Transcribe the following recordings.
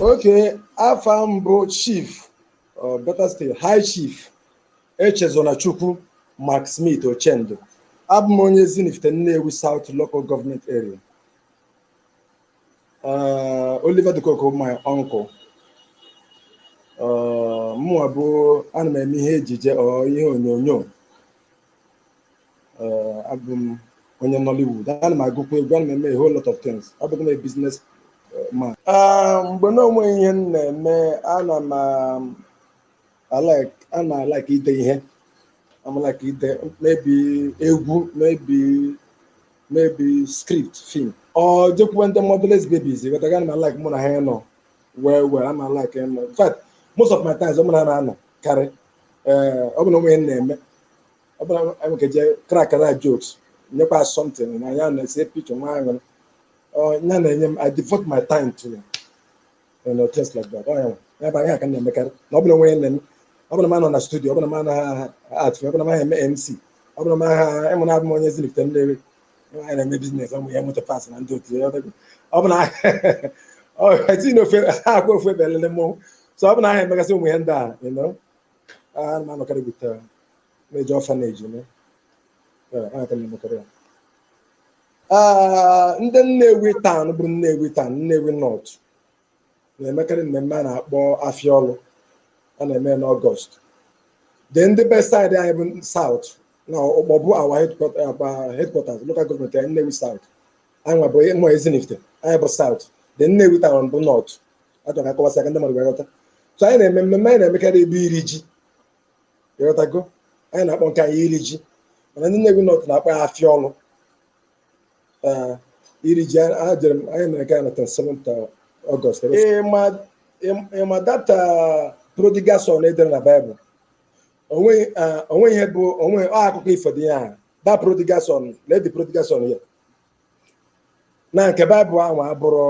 okay afa m bụ chief uh, better still high chief echezona chukwu mcsmith ochendo abụ m onye ezinifite nnewi south local government area Uh, oliver de coque my uncle mụnwa bụ ana m eme ihe ejije or ihe onyonyo uh, abụ m onye Nollywood ana m agụkwa egwu ana m eme a whole lot of things abụ m a business uh, man Ah, mgbe na o nweghị ihe m na-eme ana m um, alike ana m alike ide ihe ana m alike ide maybe egwu maybe maybe script film or jekwuwe ndị motherless babies ị ghọtago ana m alike mụ na ha ịnọ well well ana m alike nọ in fact most of my times ọ mụ na ha na-anọ karị ee ọ bụrụ na o nweghị ihe m na-eme ọ bụrụ na anyị nwee ike jee crackara jokes nyekwa something na ya na-ese picture nwee aṅụrị Ọ, ya na-enye m i devote my time to ya you know, things like that. Ọ ya nwe. Ya bụ ihe a ka m na-emekarị na ọ bụrụ na m nwere onwe m ọ bụrụ na m anọghị na studio ọ bụrụ na m anaghị act ọ bụrụ na m anaghị eme mc ọ bụrụ na m agaghị ị ma na abụ m onye ezinifite ndị ebe anyị na-eme business ụmụ ihe motor parts na ndị otu ya ọ bụla etinye na ofe anaghị akwụ ofu ebe elele mmọnwụ so ọ bụrụ na anaghị m emegasị ụmụ ihe ndị a you know, ana m anọkarị with uh, na-eje orphanage eme Yeah, ihe a ka m na-emekarị ya. Ah, ndị Nnewi town bụrụ Nnewi town Nnewi North na-emekarị mmemme a na-akpọ afịa ọlụ a na-eme n'August then ndị be side anyị bụ South na Ukpor bụ our headquarters local government anyị Nnewi South anyị nwa bụ ụmụ ezinifite anyị bụ South then Nnewi town bụ North achọrọ m ka m kọwasịa ka ndị mmadụ ghọta so anyị na-eme mmemme anyị na-emekarị bụ iri ji ị ghọtago anyị na-akpọ nke anyị iri ji mana ndị Nnewi North na-akpọ ya afịa ọlụ ee iri ji a jere m anyị mere nke anyị na 27 August ị ma that prodigal son e dere na Bible o nwe ihe bụ o nwe ọ akụkọ ifo dị ya that prodigal son lee the prodigal son here na nke Bible ahụ abụrọ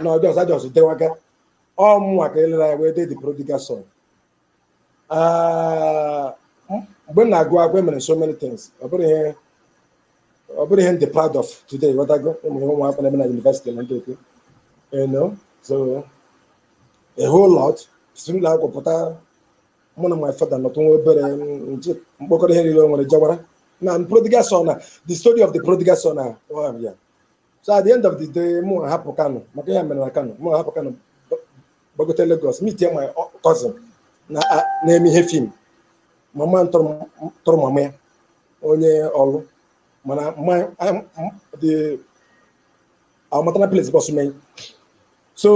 na ọ just a just dewaga ọ mụnwa ka e lere anya wee dee the prodigal son Ah, m- mgbe m na-agụ akwụkwọ emere m so many things ọ bụrọ ihe ọ bụrọ ihe m dị proud of today ghọtago ụmụ ihe ụmụaka na-eme na university na ndị oke you know so a whole lot si n'ụlọ akwụkwọ pụta mụ na my father nọtụ nwa obere m ji m kpokọrọ ihe niile o nwere jawara na prodigal son na the story of the prodigal son na ọ ya so at the end of the day mụ hapụ kano maka ihe a mere na kano mụ hapụ kano gbagote lagos meet my cousin na a- na-eme ihe fim mama m tọrọ m- tọrọ mama ya onye Orlu mana my- I'm- the maternal place bụ Osumenyi so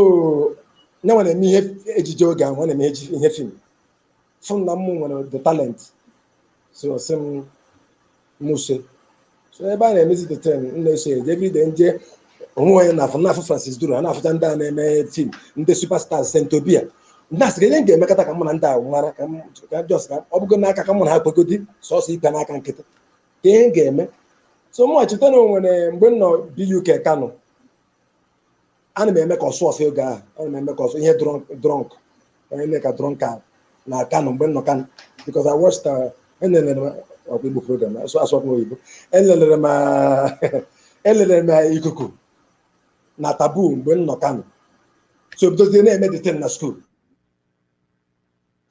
ya nwa na-eme ihe ejije oge ahụ ọ na-eme eji- ihe fim fụ na m nwere the talent so ọ sị m muse so ebe a na-emezi the thing m na-eso eje everyday nje onwe onye na-afụ na-afụ Francis Duru a na-afụcha ndị a na-eme fim ndị superstars Saint Obi ndị a sị ihe m ga-emekọta ka mụ na ndị a mara ka m ka just ka ọ bụgo n'aka ka mụ na ha kwegodi sọsọ ibe n'aka nkịtị kee ihe m ga-eme so mụ cheta na onwere mgbe m nọ BUK Kano ana m eme ka Ọsụọfịa oge ahụ ana m eme ka ọsụ ihe drunk drunk onye eme ka drunkard na Kano mgbe m nọ Kano because I watched uh, elelere m ọkwa Igbo program asụ asụ ọkwa oyibo elelere m uh, elelere m uh, Ikuku na Taboo mgbe m nọ Kano so bidozie na-eme the thing na school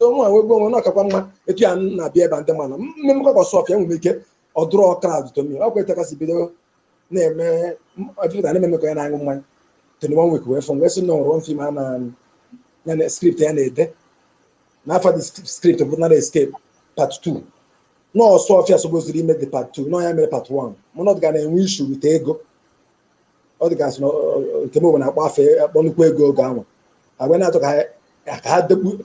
onwe a wee gbuo onwe na ọkakwa mma etu ya na-abịa ebe a ndị mana mme mmekọ ka Ọsụọfịa enwere ike ọ draw crowd to me ọkwa etu a ka m si bido na-eme ọjụta na-eme ka onye na-aṅụ mmanya Tony One Week wee fụ m wee sị na o nwere one film a na ya na script ya na-ede na afa the script bụ Narrow Escape part 2 na Ọsụọfịa suppoziri ime the part 2 na ọ ya mere part 1 mana ọ ga na-enwe issue with ego ọ dị ka a sị na Nkem na-akpọ fa akpọ nnukwu ego oge ahụ agwa na-achọ ka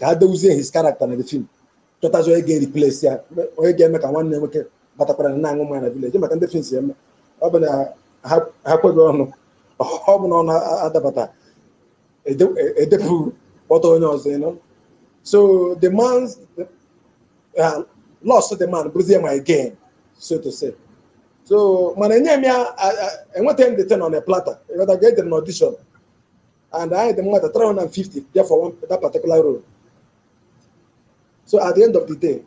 ha depụzie his character na the film chọtazi onye ga-replace ya onye ga-eme ka nwanne ya nwoke batakwara na na-aṅụ mmanya na village ị ma ka ndị fim si eme ọ bụ na ha kweghị ọnụ ọ bụ na ọnụ adabata edepụ kpọta onye ọzọ you know so the man's uh, loss the man bụrụzie my gain so to say so mana enye m ya enwetaghị m the thing on a platter ị ghọtago ejere m audition anyị dị mmadụ 350 bịa for one, that particular role so at the end of the day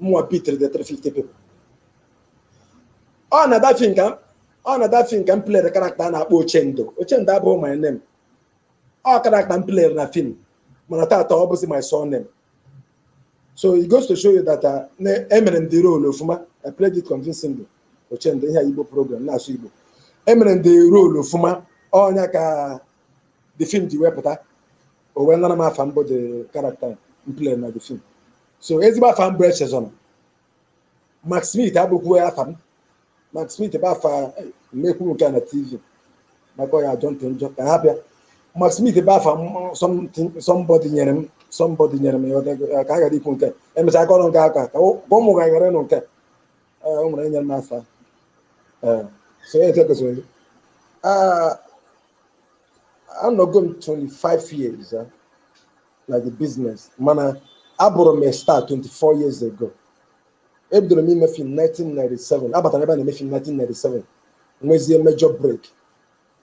mụnwa bitere the 350 people ọ na that film ka ọ na that film ka m plere character a na-akpọ ochendo ochendo abụghị my name ọ character m plere na film mana tata ọ bụzi my surname so it goes to show you that uh, na- emere m the role ofuma i played it convincingly ochendo ihe a igbo program na-asụ igbo emere m the role ofuma ọ ya ka the film ji wepụta o wee nara m afa m bụ the character m play na the film so ezigbo afa m bụ Echezọna McSmith abụkwuo ya afa m McSmith bụ afa m ekwuru nke a na TV maka ya ajọ ntị njọ ka a hapụ ya McSmith bụ afa somebody nyere m somebody nyere m ya ka a ghara ikwu nke emechaa aka ọrụ nke aka ka ụmụaka ghara ịnụ nke o nwere enyere m afa so ya etekọsịrị anọgo m 25 years na the business mana abụrụ m a star 24 years ago ebidoro m ime film 1997 abatara ebe a na-eme film 1997 nwezie major break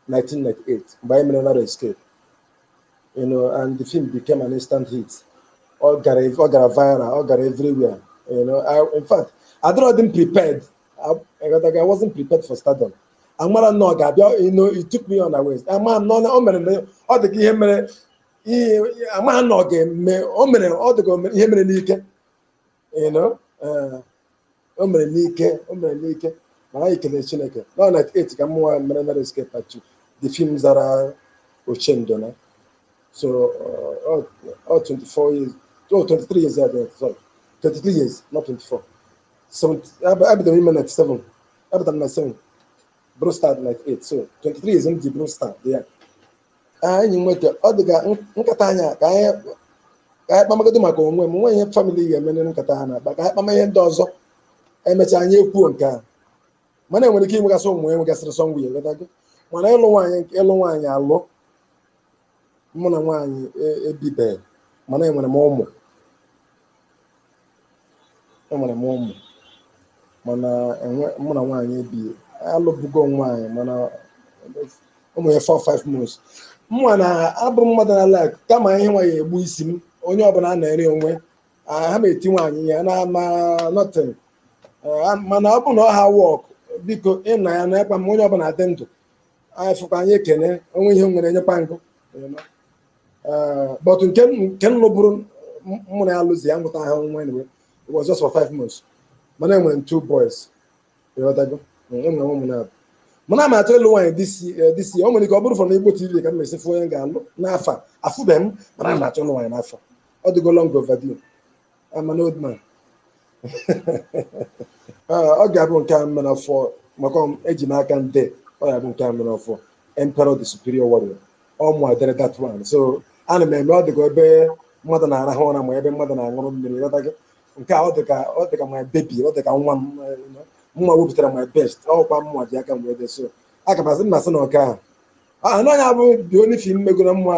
1998 mgbe anyị mere Narrow Escape you know and the film became an instant hit ọ gara ọ gara viral ọ gara everywhere you know I, in fact adịrọ dị m prepared I, I wasn't prepared for stardom amarọ m na ọ ga-abịa you know it took me unawares ama m na ọ mere na ọ dị ka ihe mere ihe amaghị na ọ ga-eme o mere ọ dịka o mere- ihe mere n'ike you know, eh, o mere n'ike o mere n'ike mana anyị kelee chineke na 98 ka mụwa mere Narrow Escape actually the film zara Ochendo na so eh, ọ ọ 24 years oh, 23 years ya dị sorry 23 years not 24 so eb- ebidoro m ime 97 ebidoro m na 97 bụrụ star 98 so 23 years m ji bụrụ star yeah anyị nweta ọ dị ka nkata anyị a, ka anyị ka anyị kpamagodo maka onwe m nwe ihe family ga-emere nkata ha na-akpa ka anyị kpama ihe ndị ọzọ emechaa anyị ekwuo nke a mana enwere ike inwegasị ụmụ enwegasịrị sọ nwunye ịghọtago mana ịlụ nwaanyị ịlụ nwaanyị alụ mụ na nwaanyị e- ebibeghị mana enwere m ụmụ enwere m ụmụ mana enwe- mụ na nwaanyị ebi alụbugo m nwaanyị mana mụ na ya for 5 months mụnwa na abụ m mmadụ na-like kama ihe nwaanyị egbu isi m onye ọbụla anaara onwe ya, ama m eti nwaanyị ihe na ma nothing Ah, mana ọ bụ na ọ naha work biko ị na ya na-ekwa m onye ọbụla dị ndụ anyị fụkwa anyị ekene onwe ihe m nwere enyekwa m gị Eh, but nke m- nke m lụbụrụ m- mụ na ya lụzi ya amụtaha nwa anyway it was just for five months mana enwere m two boys ịghọtago Mm, enwere m ụmụ naabụ mana ana m achọ ịlụ nwaanyị this year- eh, this year ọ nwere ike ọ bụrụ from Igbo TV ka m ga-esi fụ onye m ga-alụ n'afọ a afụbeghị m mana ana m achọ ịlụ nwaanyị n'afọ a ọ dịgo long overdue I'm an old man. Ah, ọ ga-abụ nke m mere ọfụụ maka m eji m aka dee ọ ga-abụ nke m mere ọfụụ Emperor the Superior Warrior ọ mụwa dere that one so ana m eme ọ dịka ebe mmadụ na-arahụ ụra ma ebe mmadụ na-aṅụrụ mmiri ịghọtago nke a ọ dịka ọ dịka my baby ọ dịka nwa m eh, you know. mụwa wepụtara my best ọkwa mụwa ji aka m wee dee so aga m asị m na asị na ọka ahụ anaghị abụ the only film m megoro mma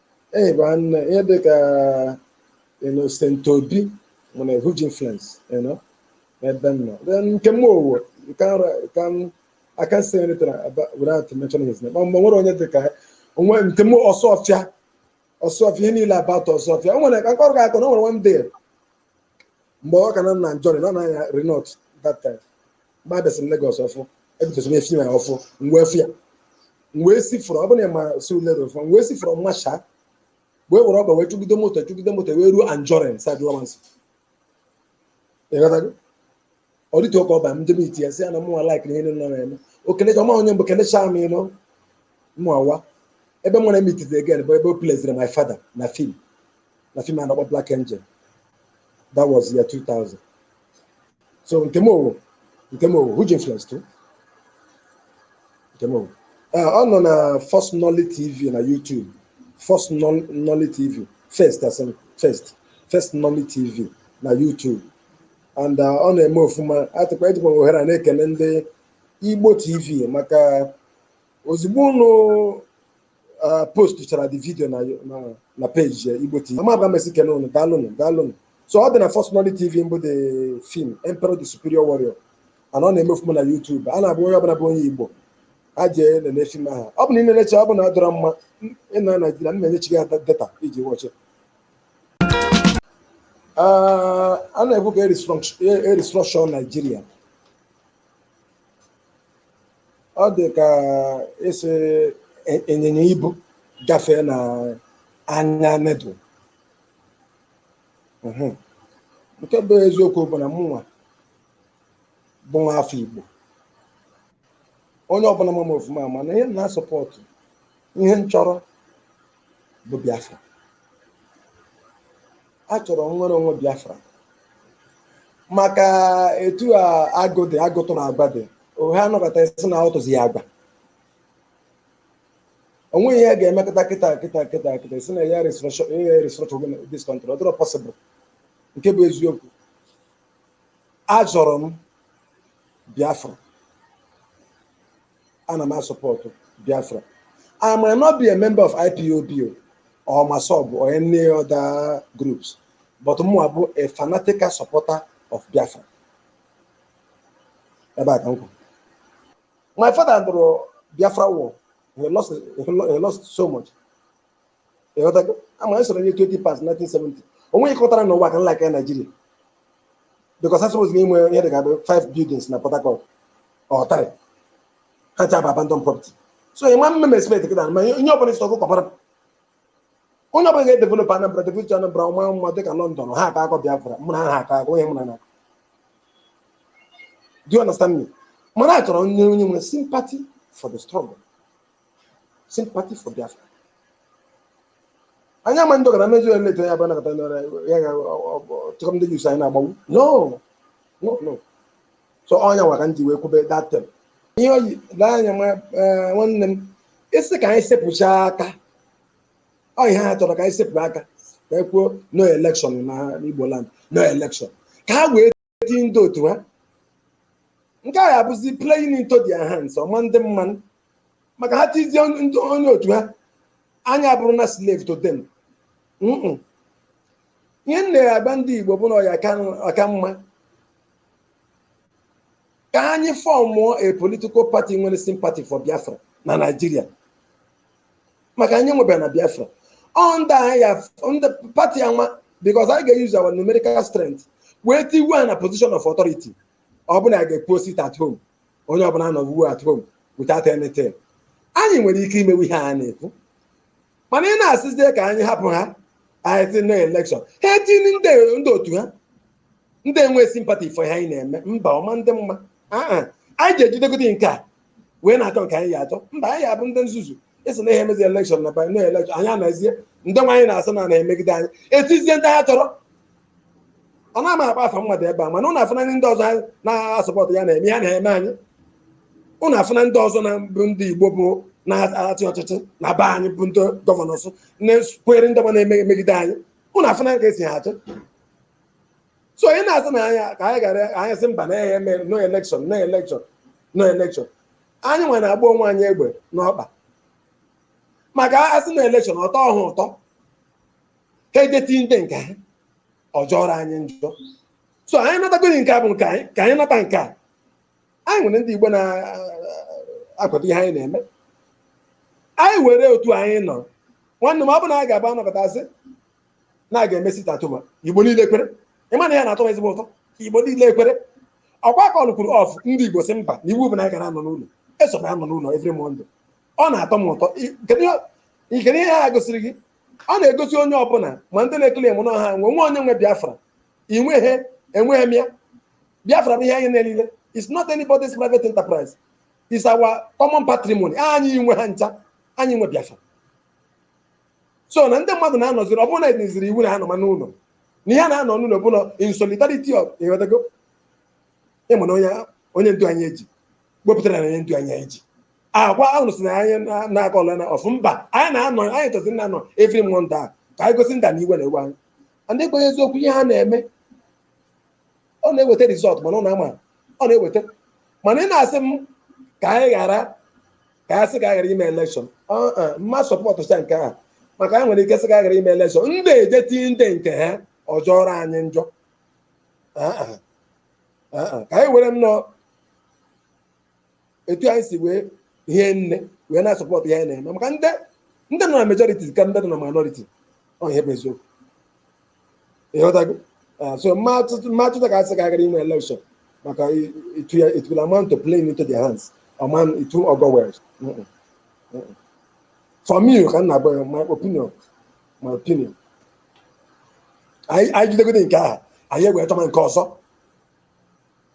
Ee, bụ nne ihe dị ka you know, St. Obi nwere huge influence you know, n'ebe m nọ. Then Nkem Owoh you can ra- you can I can't say anything about, without mentioning his name. Ma mgbe nwere onye dị ka onwe Nkem Osuofia Osuofia ihe niile about Osuofia. O nwere ka mkpọrọ ga-akọ na o nwere one day mgbe ọ ka nọ na Anjorin na-anya Renault that time mgbe abịasị m Lagos ọfụ ebidosi m fim ọfụ m wee fụ ya m wee si from Ogunlana Surulere ọfụ m wee si from Masha wee were ọkpa wee chụgide moto chụgide moto wee ruo Anjorin side Lawanson ị ghọtago ọ dịtụ oke ọba m jee miiti ya sị ya na mụnwa laikiri ihe niile ọ na-eme o kelechaa m onye mbụ kelechaa m you know mụwa ebe m wee miiti ya again bụ ebe o pleziri my father na fim na fim a na-akpọ Black Angel that was year 2000 so Nkem Owoh Nkem Owoh huge influence too Nkem Owoh Eh, ọ nọ na First Nolly TV na YouTube First Nol- Nolly TV first asị m first First Nolly TV na YouTube and ọ na-eme ofuma atụkwa ejikwa m ohere a na-ekene ndị Igbo TV maka ozugbo ụnụ post chara the video na na peji Igbo TV ama abụla m esi kene ụnụ daalụnụ daalụnụ so ọ dị na First Nolly TV mbụ the film Emperor the Superior Warrior and ọ na-eme ofuma na YouTube a na-abụ onye ọbụla bụ onye Igbo a jee nene fim ahụ ọ bụ na ị nenecha ọ bụ na ọ dịrọ mma ị nọ Naijiria m na-enyechi gị data i ji wọchị Ah, a na-ekwu ka e restructure Naijiria ọ dị ka ịsị e- ịnyịnya ibu gafee na anya needle Mhm. nke bụ eziokwu bụ na mụnwa bụ nwa afọ igbo onye ọbụla ma m ofuma ma na ihe m na-asọpọtụ ihe m chọrọ bụ Biafra achọrọ m nnwere onwe Biafra maka etu a agụ dị agụ tụrụ agwa dị ohe a nọkata ị sị na ọ tụzi ya agwa o nweghị ihe a ga-eme kịta kịta kịta kịta ị sị na ya restructure this country ọ dịrọ possible nke bụ eziokwu achọrọ m Biafra ana m asọpọtụ biafra i might not be a member of IPOB or MASSOB or any other groups but mụwa bụ a fanatical supporter of biafra ebe a ka m kwuru my father nụrụ biafra war he lost, he lost so much ama anyị soro nye 20 pounds 1970 onwe ịkọtara na ụwa ka nla ka naijiria because a suppose inwe ihe dị ka 5 buildings na port harcourt ọtarị ha ncha bụ abandon property so ịma mme expect kịta ma onye ọbụla isi ọkụ kọbara onye ọbụla ga-edevelop anambra develop anambra ọ maa mma dịka london ha aka akọ biafra mụ na ha aka akọ onye mụ na na do you understand me mana a chọrọ onye onye nwere sympathy for the struggle sympathy for Biafra anyị ama ndị ọgara mezu eleta ya bụ anakọta nara ya ga chọkọ ndị youths anyị na-agbanwu no no no so ọ nya nwa ka m ji wee kwube that term ihe oyi lee anya nwa eh, nwanne m ị sị ka anyị sepụcha aka ọ ihe ha chọrọ ka anyị sepụ aka ka e kwuo no election na Igbo land no election ka ha wee eti ndị otu ha nke a abụzi playing into their hands ọ ma adị mma nụ maka ha tizie onye otu ha anyị abụrụ na slave to them Mm-mm. ihe m na-agwa ndị igbo bụ na ọ ya-aka mma ka anyị fọmụọ a political party nwere sympathy for biafra na naijiria maka anyị nwebara na biafra under party a nwa because anyị ga-use our numerical strength wee tiwe ha na position of authority ọ bụ na a ga-ekwu sit at home onye ọbụla nọọ at home without anything anyị nwere ike imewe ihe a na-ekwu mana ị na-asịzie ka anyị hapụ ha anyị sị no election ha etinye ndị ndị otu ha ndị enwe sympathy for ihe anyị na-eme mba ọ ma adị mma aa anyị ga-ejidegodi nke a wee na-achọ nke anyị ya-achọ mba anyị abụ ndị nzuzu ị sị na ihe emezi election na no election anyị anazie ndị nwa anyị na-asị na na-emegide anyị etizie ndị ha chọrọ ọ na m ama akpọ afa mmadụ ebe a mana ụnụ afụna ndị ọzọ na-asupport ihe a na-eme ihe a na-eme anyị ụnụ afụna ndị ọzọ na bụ ndị igbo bụ na-achị ọchịchị na be anyị bụ ndị governors na-ekwere ndị ọma na-emegide anyị ụnụ afụna ka esi ha achọ so ị na-asị na anya ka anyị gara anyị sị mba na a ya-eme no election no election no election anyị nwa na-agba onwe anyị egbe n'ọkpa maka a sị no election ọ tọọ ha ụtọ ha eje tie ndị nke ha ọ jọọrọ anyị njọ so anyị natagodi nke a bụ nke anyị ka anyị nata nke a anyị nwere ndị Igbo na-akwado ihe anyị na-eme anyị nwere otu anyị nọ nwanne m ọ bụ na anyị ga-aba anọkọta sị na a ga-eme sit at home igbo niile kwere ị ma na ihe a na-atọ m ezigbo ụtọ ka igbo niile kwere ọ kwa a callụkwuru off ndị igbo sị mba na iwu bụ na anyị gara anọ n'ụlọ esokwa anọ n'ụlọ every Monday ọ na-atọ m ụtọ I- kedu ihe- i- kedu ihe ha gosiri gị ọ na-egosi onye ọbụla ma ndị na-eclaim na ha nwe nwe onye nwe biafra inweghị enweghị m ya biafra bụ ihe anyị niile it's not anybody's private enterprise it's our common patrimony anyị nwe ya ncha anyị nwe biafra so na ndị mmadụ na-anọziri ọ bụrụ na etiziri iwu na ha nọma n'ụlọ na ihe a na-anọ n'ụlọ bụ na in solidarity of ịghọtago ịma na onye onye ndu anyị eji wepụtara na onye ndu anyị anyị ji agwa ahụ si na anyị na- na-aga ọla na ọfụ mba anyị na-anọ anyị chọziri ịna-anọ every Monday ka anyị gosi ndị a na iwe na-ewe anyị and ekwenye eziokwu ihe ha na-eme ọ na-eweta result mana ọ na-ama ọ na-eweta mana ị na-asị m ka anyị ghara ka anyị sị ka anyị ghara ime election m ma sọpọtụcha nke a maka anyị nwere ike sị ka anyị ghara ime election ndị eje tinye ndị nke ha ọ jọọrọ anyị njọ Ah, ah. Ah, ah. ka anyị were nnọọ etu anyị si wee hie nne wee na-asọpọtụ ihe anyị na-eme maka ndị ndị nọ na majority ka ndị nọ na minority ọ ihe bụ eziokwu ịghọtago Ah, so m ma achọcha m ma achọcha ka asị ka a ghara inwe election maka i- it will it will amount to playing into their hands ọman it won't go well Mm-mm. Mm-mm. for me ka m na-agwa ya my opinion my opinion anyị anyị jidegode nke ahụ anyị ewee chọma nke ọzọ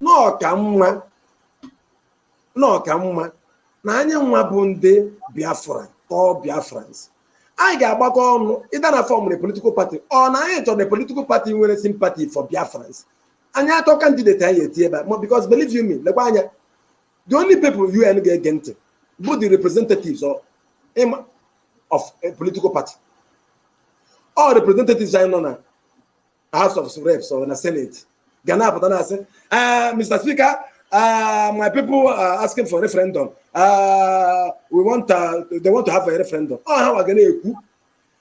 na ọ ka mma na ọ ka mma na anyị nwa bụ ndị Biafra or Biafrans anyị ga-agbakọ ọnụ either na form political party or na anyị chọrọ political party nwere sympathy for Biafrans anyị achọọ candidate anyị etie ebe a ma because believe you me lekwa anya the only people UN ga-ege ntị bụ the representatives of, ịma- of a political party ọ representatives anyị nọ na House of Reps or na Senate ga na-apụta na-asị "Ah, Mr. Speaker ah, my people are asking for referendum Ah, we want ah, they want to have a referendum ọ ha wa ga na-ekwu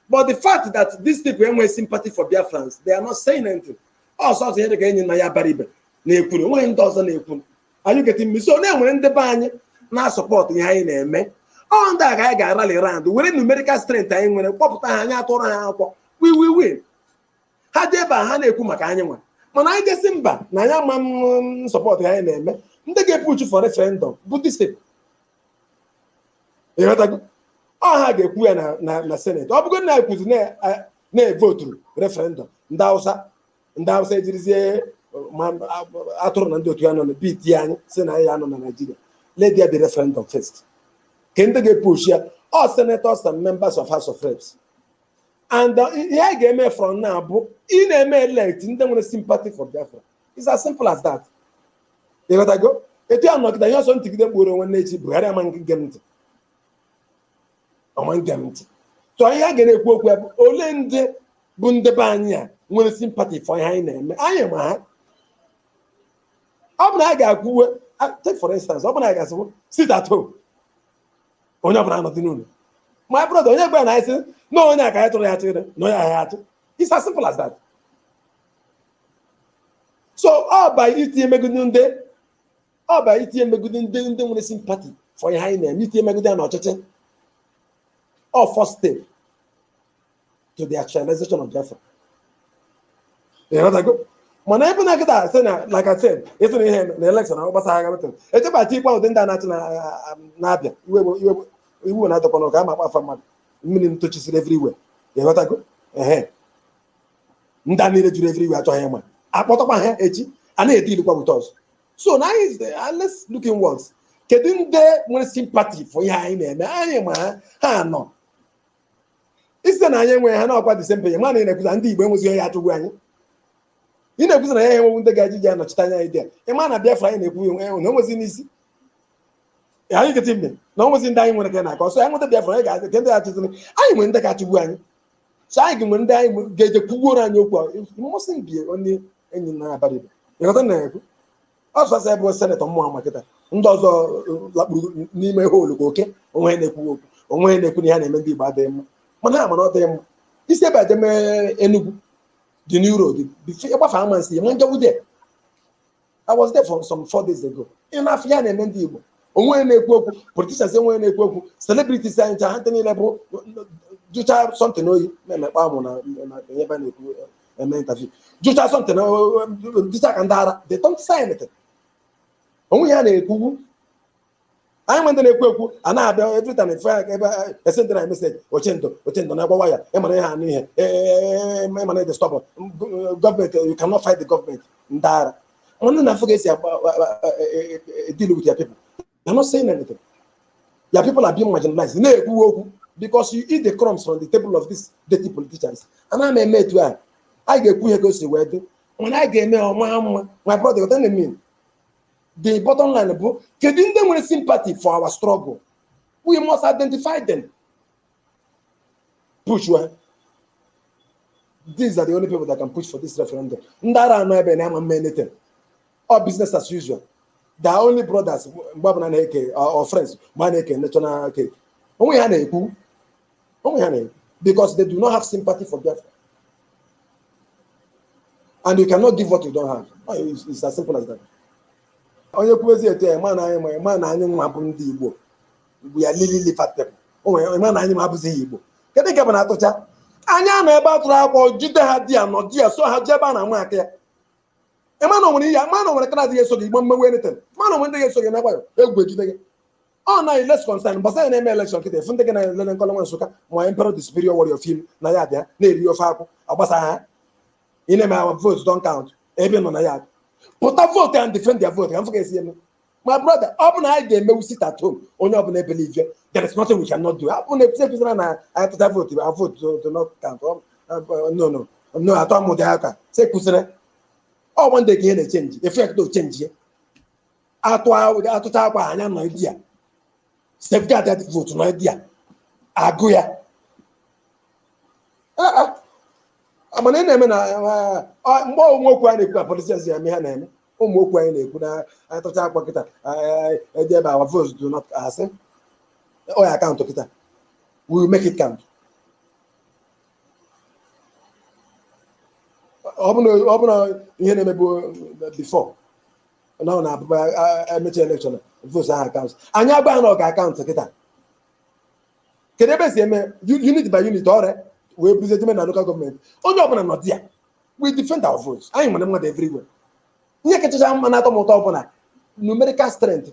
but the fact that these people enweghị sympathy for Biafrans they are not saying anything ọ sọ ọ sọ ihe dị ka Enyinnaya Abaribe na-ekwuru onweghị ndị ọzọ na-ekwuru are you getting me so na e nwere ndị be anyị na-asọpọtụ ihe anyị na-eme ọ ndị a ka anyị ga-arally round were numerical strength anyị nwere kpọpụta ha anyị atụrụ ha akwụkwọ we will win ha dị ebe a ha na-ekwu maka anyị nwa mana anyị ga-asị mba na anyị ama asọpọtụ anyị na-eme ndị ga-epush for referendum bụ these people ịghọtago ọ ha ga-ekwu ya na- na na Senate ọ bụgo na anyị kwuzi na- a- na-evoturu referendum ndị Hausa ndị Hausa ejirizie ma atụrụ na ndị otu ya nọ na-ebeat anyị si na ya nọ na Nigeria let there be referendum first ka ndị ga-epush ya ọ senators and members of house of reps and uh, ihe anyị ga-eme from now bụ ị na-eme elect ndị nwere sympathy for Biafra it's as simple as that ịghọtago etu ya nọ kịta ihe ọ sọ m tigide mkpu rue n'echi Buhari ama ege m ntị ọ ma ege m ntị so ihe a ga na-ekwu okwu ya bụ ole ndị bụ ndị be anyị a nwere sympathy for ihe anyị na-eme anyị ma ha ọ bụ na a ga-ekwuwe a- take for instance ọ bụ na a ga-asị sit at home onye ọbụla anọdị n'ụlọ my brother onye gwa na anyị sị na onye aka anyị tụrụ ya chịrị na onye ahụ ya-achị it's as simple as that so ọ ba itinye megide ndị ọ ba itinye megide ndị ndị nwere sympathy for ihe anyị na-eme itinye megide ha n'ọchịchị ọ first step to the actualization of Biafra. ịghọtago mana ebe na kịta sị na like I said ịsị na ihe na election ahụ gbasara agha metin echebata ikpe ụdị ndị a na-achị n'Abịa iwu na-adọkwa na ọ ga-ama akpọ afa mmadụ mmiri ntochisiri everywhere ịghọtago ehe ndị a niile juru everywhere achọghị ịma a kpọtakwa ha echi a na-edealikwa with us so now let's look inwards kedu ndị nwere sympathy for ihe anyị na-eme anyị ma ha ha nọ ị sị na anyị enweghị ha ọkwa the same mana ị na-ekwuza ndị Igbo enwezighị ya achịgbu anyị ị na-ekwuza na ya enwewu ndị ga-eji ji anọchite anya anyị dị ya ị ma na Biafra anyị na-ekwu enwe na onwezi n'isi anyị kịta mbe na onwezi ndị anyị nwere ka na-akọ so anyị nweta Biafra anyị ga-asị ka ndị achịziri anyị nwere ndị ga-achịgbu anyị so anyị ga-enwe ndị anyị ga-eje kwugbuoro anyị okwu mmasị mbie onye Enyinnaya Abaribe ịghọta na-ekwu ọ sọsọ ya bụ senetọ mụwa ma kịta ndị ọzọ lakpuru n'ime hole ka oke onwe ya na-ekwu okwu onwe ya na-ekwu na ihe a na-eme ndị Igbo adịghị mma mana ha ma na ọ dịghị mma ị si ebe a jeme Enugu there's no road ị gbafee Amansea ma njewu there I was there for some four days ago ị na-afụ ihe a na-eme ndị Igbo onwe ya na-ekwu okwu politicians enwe ya na-ekwu okwu celebrities anyị ncha ha ndị niile bụ jụcha something oyi na-emekpa amụ na ebe a na-ekwu eme interview jụcha something dịcha ka ndị ara they don't say anything onwe ya na-ekwugwu anyị nwe ndị na-ekwu ekwu a na-abịa every time efe aka ebe esendịra anyị message oche ndụ oche ndụ na-agbawa ya ịmara ihe anụ ihe ịmara ịdị stop government you cannot fight the government ndị ara nwanne na-afụ ka e si deal with your people You're not saying anything. Your people are being marginalized. Na-ekwu okwu because you eat the crumbs from the table of these dirty politicians. Ana m eme etu a, anyị ga-ekwu ihe ka o si wee dị. Mana anyị ga-eme ọma mma. My brother, what do you mean? The bottom line bụ kedu ndị nwere sympathy for our struggle? We must identify them. push ha these are the only people that can push for this referendum ndị ara a nọ ebe na-ama eme anything ọ business as usual they are only brothers mgbe ọbụla na-eke or friends mgbe a na-eke national cake onwe ha na-ekwu onwe ha na-ekwu because they do not have sympathy for Biafra and you cannot give what you don't have Oh, it's, it's as simple as that onye kwuo ezi etu ya ma na anyị ma ma na anyị nwa bụ ndị Igbo igbu ya really really fat people o nwere ịma na anyị ma abụzi ya igbo kedu nke bụ na atụcha anyị anọ ebe atụrụ akwọ jide ha there nọ there so ha jee ebe a na-ama aka ya ịma na onwere ihe ma na onwere kara adịghị eso gị igbo mmewe anything ma na onwere ndị ga-eso gị na gbayo egwu ejide gị ọ na less concern gbasa ya na-eme elekshọn kịta afụ ndị gị na-elele nkọlọ nwa nsụka ma emperor the superior warrior film na ya abịa na-eri ofe akwụ agbasa ha ị na-eme our vote don't count ebe nọ na ya pụta vote and defend their vote ka m fụ ka esi eme my brother ọ bụ na anyị ga-emewu sit at home onye ọbụla ebelieve there is nothing we can not do ọ bụ na ekwusi ekwusara na anyị tụcha vootu our votes do not count ọ no no no atọ m ụdị aka se kwusịrị ọ bụ one day ka ihe na-echenji effect o chenji ya atụ atụcha akwọ anyị anọ there safeguard that vootu nọ there agụ ya mana ị na-eme na mgbe onwe okwu a na-ekwu na politicians ya eme ha na-eme ụmụ okwu anyị na-ekwu na anyị tụcha akwa kịta eje ebe our votes do not asị ọ ya-akaụntụ kịta we will make it count ọ bụrụ na- ọ bụrụ na ihe na-emebu before na ọ na-abụ emecha elekshọn votu ahụ akaụntụ anyị agwa ha na ọ ga-akaụntụ kịta kedu ebe esi eme unit by unit ọrịa wee buzie jeme na local government onye ọbụla nọ there we defend our votes anyị nwere mmadụ everywhere ihe kachacha mma na-atọ m ụtọ bụ na numerical strength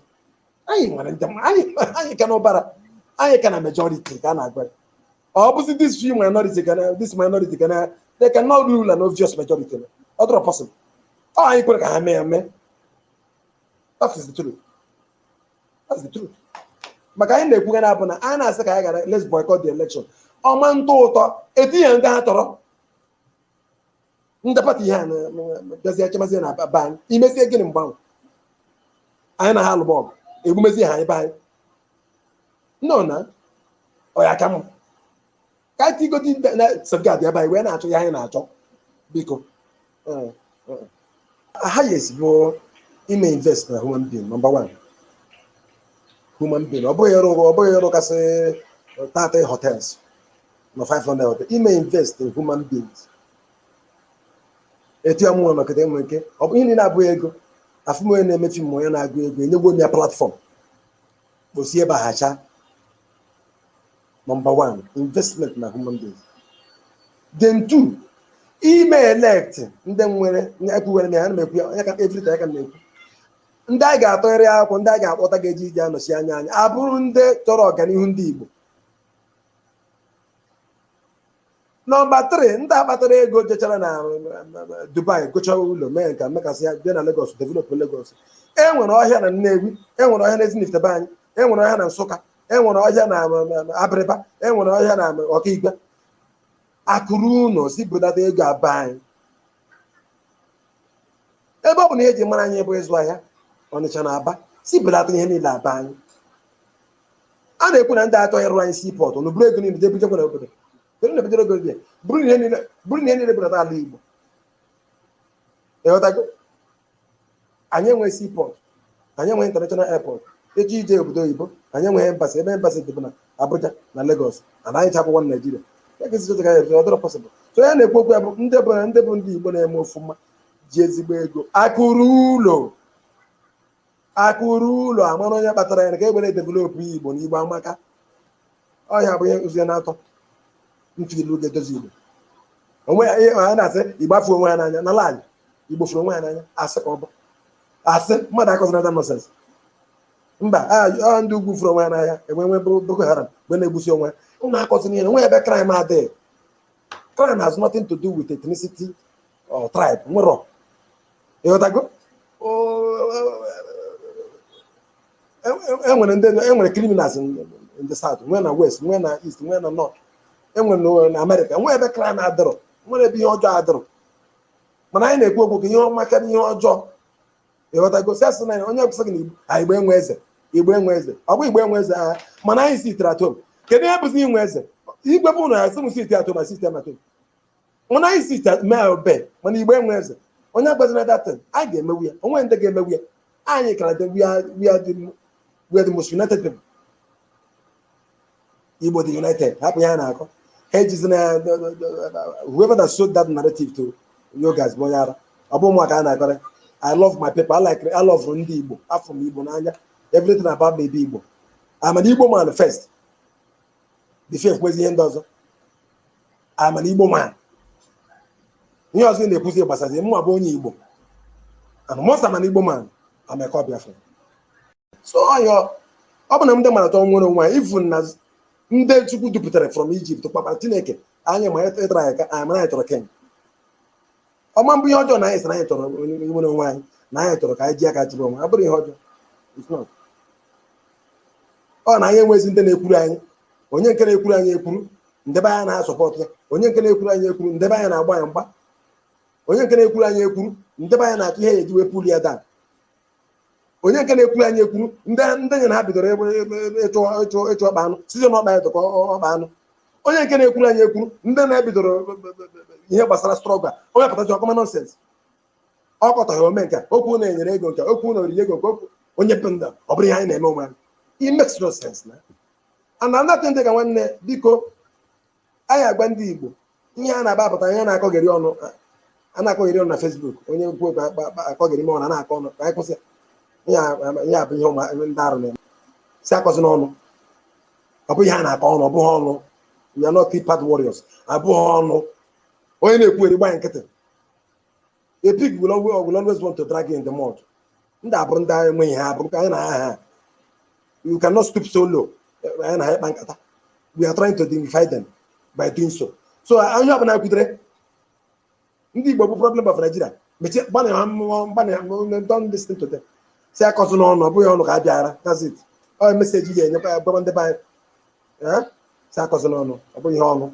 anyị nwere ndị mma anyị anyị ka n'ụbara anyị ka na majority ka a na-agwa ya. ọ bụzi this few minority ka na this minority ka na they can not rule an obvious majority na ọ dịrọ possible ọ anyị kwere ka ha mee ya mee that is the truth that's the truth maka anyị na-ekwuga na ọ bụ na anyị na-asị ka anyị gara let's boycott the election ọ ma-atọ ụtọ etinye ndị ha chọrọ ndị pati ihe a na- na- na- bịazie achịmazie na be anyị imezie gịnị mgbe ahụ anyị na ha alụba ọgụ egbumezie ha anyị be anyị no na ọ ya ka mma ka anyị tigodi na safeguard be anyị wee na-achọ ya anyị na-achọ biko Eh, eh. highest bụ ime invest na human being number one human being ọ bụghị ịrụ ọ bụghị ịrụ kasị 30 hotels na 500 ọ bụ ime invest in human beings etu a mụnwa nọ kịta enwe nke ọ bụ ihe niile abụghị ego afụ m onye na-eme film onye na-agụ egwu enyegwo m ya platform ka o si ebe ahụ cha nọmba 1 investment na human beings then 2 ime elect ndị nwere ekwuwere m ya ana m ekwu ya onye ka every time ka m na-ekwu ndị anyị ga-atụgharị akwụkwọ ndị anyị ga-akpọta ga-eji iji anọchi anya anyị abụrụ ndị chọrọ ọganihu ndị Igbo nọmba 3 ndị akpatara ego jechara na dubai gochara ụlọ mee nke mekasị ya bịa na lagos develop lagos enwere ọhịa na nnewi enwere ọhịa na ezinifite be anyị enwere ọhịa na nsụka enwere ọhịa na abịrịba enwere ọhịa na okigwe akụ ruo ụlọ sị bulata ego a be anyị ebe ọ bụ na ihe eji mara anyị bụ ịzụ ahịa ọnịcha na aba sị bulata ihe niile a be anyị a na-ekwu na ndị achọ ịrụ anyị seaport na buru ego niile jee bujekwa na obodo kedu na bujere obodo ya buru ihe niile buru ihe niile buna ala igbo ịghọtago anyị enweghị seaport anyị enweghị international airport eji ije obodo oyibo anyị enweghị embassy ebe embassy dị bụ na abuja na lagos na anyị chapụ nwa naijiria ya ga esichọta ka ya ọ dịrọ possible so ya na-ekwu okwu ya bụ ndị bụ ndị bụ ndị igbo na-eme ofụma ji ezigbo ego akụ ruo ụlọ akụ ruo ụlọ a mara onye kpatara ya na ka e were develop igbo na igbo amaka ọhịa bụ ihe nkụzi na-atọ m feel ga-edozi igbo onwe ya ihe ha na-asị igbo afụ onwe ya n'anya na lie igbo fụrụ onwe ya n'anya asị ka ọ bụ asị mmadụ akọzina that nonsense mba a a ndị ugwu fụrụ onwe ya n'anya enwe nwe bụ boko haram mgbe na-egbusi onwe ya ụnụ akọzina ihe na o nwe ebe crime adịghị crime has nothing to do with ethnicity or tribe nwere ịghọtago enwere ndị enwere criminals in the south nwee na west nwee na east nwee na north enwere na amerịka nwee ebe crime adịrọ nwere ebe ihe ọjọọ adịrọ mana anyị na-ekwu okwu ka ihe ọma karịa ihe ọjọọ ịghọtago si asị na onye kwụsịrị na igbo a igbo enwe eze igbo enwe eze ọ bụ igbo enwe eze aghaa mana anyị sitere atom kedu ihe bụzi inwe eze igwe bụ na asị m site atom na sistem atom mana anyị site mee obe mana igbo enwe eze onye akọzina that thing anyị ga-emewu ya o nwe ndị ga-emewu ya anyị kara dị we are we are the we are the most united people igbo dị united hapụ ihe a na-akọ ha ejizi na whoever that sold that narrative to you guys bụ onye ara ọ bụ mụ ka a na-akọrọ i love my people i like i love ndị igbo afụ m igbo n'anya everything about me bụ igbo i'm an igbo man first before ekwuzi ihe ndị ọzọ i'm an igbo man ihe ọzọ ị na-ekwuzi gbasazi mụwa bụ onye igbo and most i'm an igbo man i'm a core biafra so ọyọ ọ bụ na ndị mara tọọ nwere onwe even na ndị chukwu dupụtara from Egypt kpakpara chineke anyị ma ịtara anyị ka anyị mara anyị chọrọ king ọ ma-abụ ihe ọjọọ na anyị sị na anyị chọrọ inwere onwe anyị na anyị chọrọ ka anyị ji aka chịrị onwe anyị. ọ bụrọ ihe ọjọọ It's not. ọ na anyị enwezi ndị na-ekwuru anyị onye nke na-ekwuru anyị ekwuru ndị be anyị na-asupport ya onye nke na-ekwuru anyị ekwuru ndị be anyị na-agba ya mgba onye nke na-ekwuru anyị ekwuru ndị be anyị na-achọ ihe a ya-eji wee pull ya down onye nke na-ekwuru anyị ekwuru ndị ndị anyị na ha bidoro ebe- ebe- ebe ịchụ ịchụ ịchụ ọkpa anụ site n'ọkpa ya tụkọ ọkpa anụ onye nke na-ekwuru anyị ekwuru ndị anyị na ha bidoro ebe- ebe- ebe- ebe- ihe gbasara struggle a onye pụtachi ọ kọma nonsense ọ kọtaghị ome nke a, okwu na e nyere ego nke a, okwu na o riri ego nke okwu onye bụ nda ọ bụrụ ihe anyị na-eme onwe anyị it makes no sense na and another thing dị ka nwanne biko anyị agwa ndị Igbo ihe a na-aba apụta onye a na-akọgheri ọnụ a na-akọgheri ọnụ na Facebook onye kwuo okwu akọgheri ma ọnụ na-akọ ọnụ ka anyị kwụsị ya bụ ihe ụmụ ndị arụ na-eme sị akọzina ọnụ ọ bụ ihe a na-akọ ọnụ ọ bụghị ọnụ we are not keypad warriors abụghị ọnụ onye na-ekwugheri gba ya nkịtị a pig will always, will always want to drag you in the mud ndị a abụrọ ndị anyị enweghị ha abụrọ ka anyị na ha ha you cannot stoop so low anyị na ha ịkpa nkata we are trying to dignify them by doing so so onye ọbụla kwutere ndị Igbo bụ problem of Nigeria mechie gbanị ha mmụọ gbanị ha mmụọ don't listen to them sị akọzina ọnụ ọ bụghị ọnụ ka a bịara that's it ọ message ya enyekwa ya gwaba ndị be anyị Eh? sị akọzina ọnụ ọ bụghị ihe ọnụ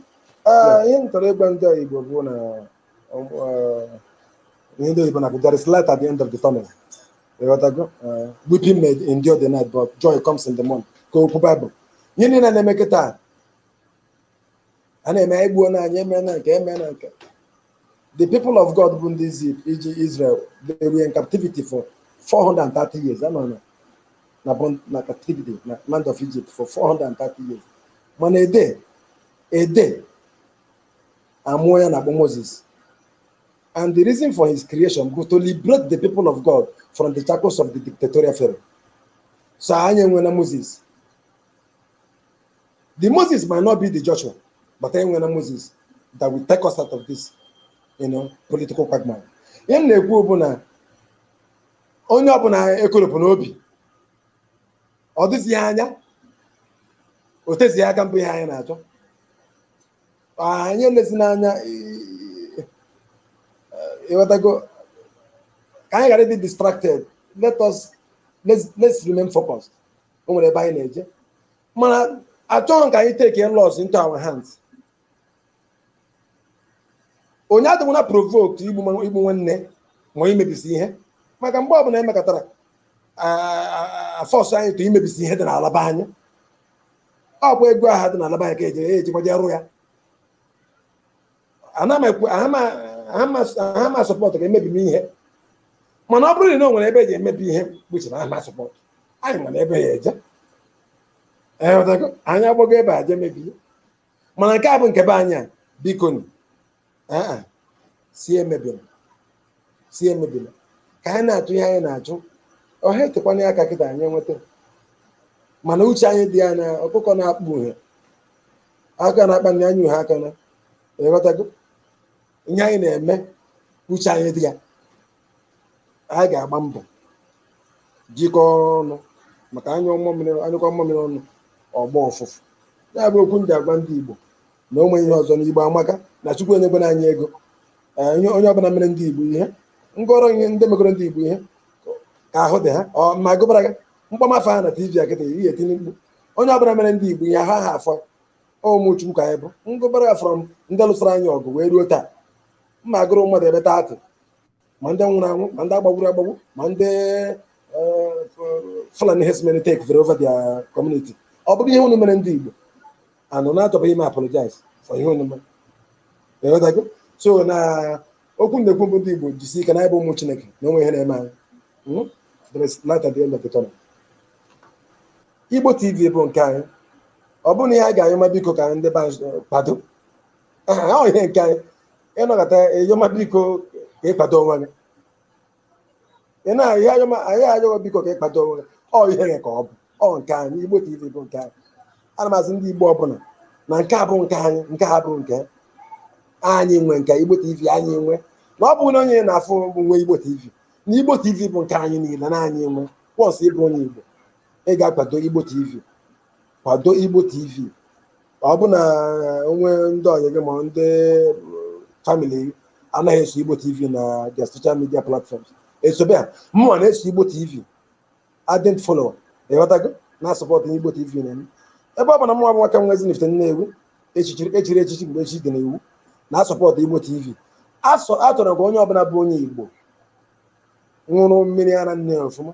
Ee, ihe m chọrọ ịgwa ndị Igbo bụ na ọ bụ, eh, ihe ndị oyibo na-akpọ there is light at the end of the tunnel ịghọtago Eh, weeping may endure the night but joy comes in the morning ka okwu Bible ihe niile na-eme kịta a na-eme anyị gbuo na anyị eme na nke eme na nke the people of God bụ ndị Egypt Egy- Israel they were in captivity for 430 years ha nọ na na bond na captivity na land of Egypt for 430 years mana a day a day amụọ onye a na-akpọ Moses and the reason for his creation was to liberate the people of God from the shackles of the dictatorial Pharaoh so anyị enwena Moses The Moses might not be the Joshua, but enwena Moses that will take us out of this you know, political quagmire. Ihe m na-ekwu bụ na onye ọbụla ekoropụna obi ọ dịzighị anya o tezighị aka mbụ ihe anyị na-achọ anyị elezi n'anya ịghọtago ka anyị ghara ịdị distracted let us let's, let's remain focused o nwere ebe anyị na-eje mana achọghị m ka anyị take laws into our hands onye adịkwana provoked igbu ma- igbu nwanne ma imebisi ihe maka mgbe ọbụla emekatara force anyị to imebisi ihe dị n'ala be anyị ọ bụ ego aha dị n'ala be anyị ka eji ejikwa je rụọ ya ana m ekwu aha ma- aha ma- aha ma support ka emebima ihe mana ọ bụrụ na o nwere ebe eje emebi ihe kpuchi na aha ma support anyị ma ebe a ya-eje Ee, ghọtago? anyị agbago ebe a je mebie mana nke a bụ nke be anyị a biko nu ee sị emebina si emebila ka anyị na-achụ ihe anyị na-achụ ọha etekwana ya aka kịta anyị enweta mana uche anyị dị ya na ọkụkọ na-akpụ uhe aka na-akpa na anyị uhe aka na ịghọtago ihe anyị na-eme uche anyị dị ya anyị ga-agba mbọ jikọọ ọnụ maka a nyụkọọ mmamịrị ọnụ ọ gbọọ ụfụfụ ya bụ okwu m ji agwa ndị Igbo na o nweghị ihe ọzọ na igbo amaka na chukwu enyekwena anyị ego ee ihe onye ọbụla mere ndị igbo ihe ngọrọ ihe ndị megoro ndị igbo ihe ka ahụ dị ha ọ ma gụbara gị m kpọma afa ha na tv a kịta ị ya-etinye mkpu onye ọbụla mere ndị igbo ihe ahụ aha afọ ụmụ chukwu ka anyị bụ m gụbara gị from ndị lụsara anyị ọgụ wee ruo taa m ma-agụru mmadụ ebe thirty ma ndị nwụrụ anwụ ma ndị agbagburu agbagbu ma ndị Fulani herdsmen take vere over their community ọ bụrụ ihe unu mere ndị Igbo and unu achọbeghị ime apologize for ihe unu mere ịghọtago so na okwu m na-ekwu bụ ndị Igbo jisi ike na anyị bụ ụmụ Chineke na o nweghị ihe na-eme anyị there is light at the end of the tunnel Igbo TV bụ nke anyị ọ bụrụ na ihe a ga-ayọma biko ka ndị be anyị kwado ihe nke anyị ị nọkata a yọma biko ka ị kpado onwe gị anaghị ayọ gị biko ka ị kpado onwe gị ọ ihe gị ka ọ bụ ọ nke anyị igbo tv bụ nke anyị ana m asị ndị igbo ọbụla na nke a bụ nke anyị nke a bụ nke anyị nwe nke igbo tv anyị nwe na ọ bụrụ na onye na-afụ nwe igbo tv na igbo tv bụ nke anyị niile na anyị nwe once ị bụ onye igbo ị ga-akwado igbo tv kwado Igbo TV ọ bụ na o nwe ndị ọyị gị ma ndị family anaghị eso Igbo TV na their social media platforms esobe ha mụnwa na-eso Igbo TV ardent follower ịghọtago na-asupport Igbo TV na m ebe ọ bụ na mụnwa bụ nwoke nwa Ezinifite Nnewi e chiri echichi mgbe echi dị n'iwu na-asupport Igbo TV achọrọ ka onye ọbụla bụ onye Igbo ṅụrụ mmiri ara nne ọfụma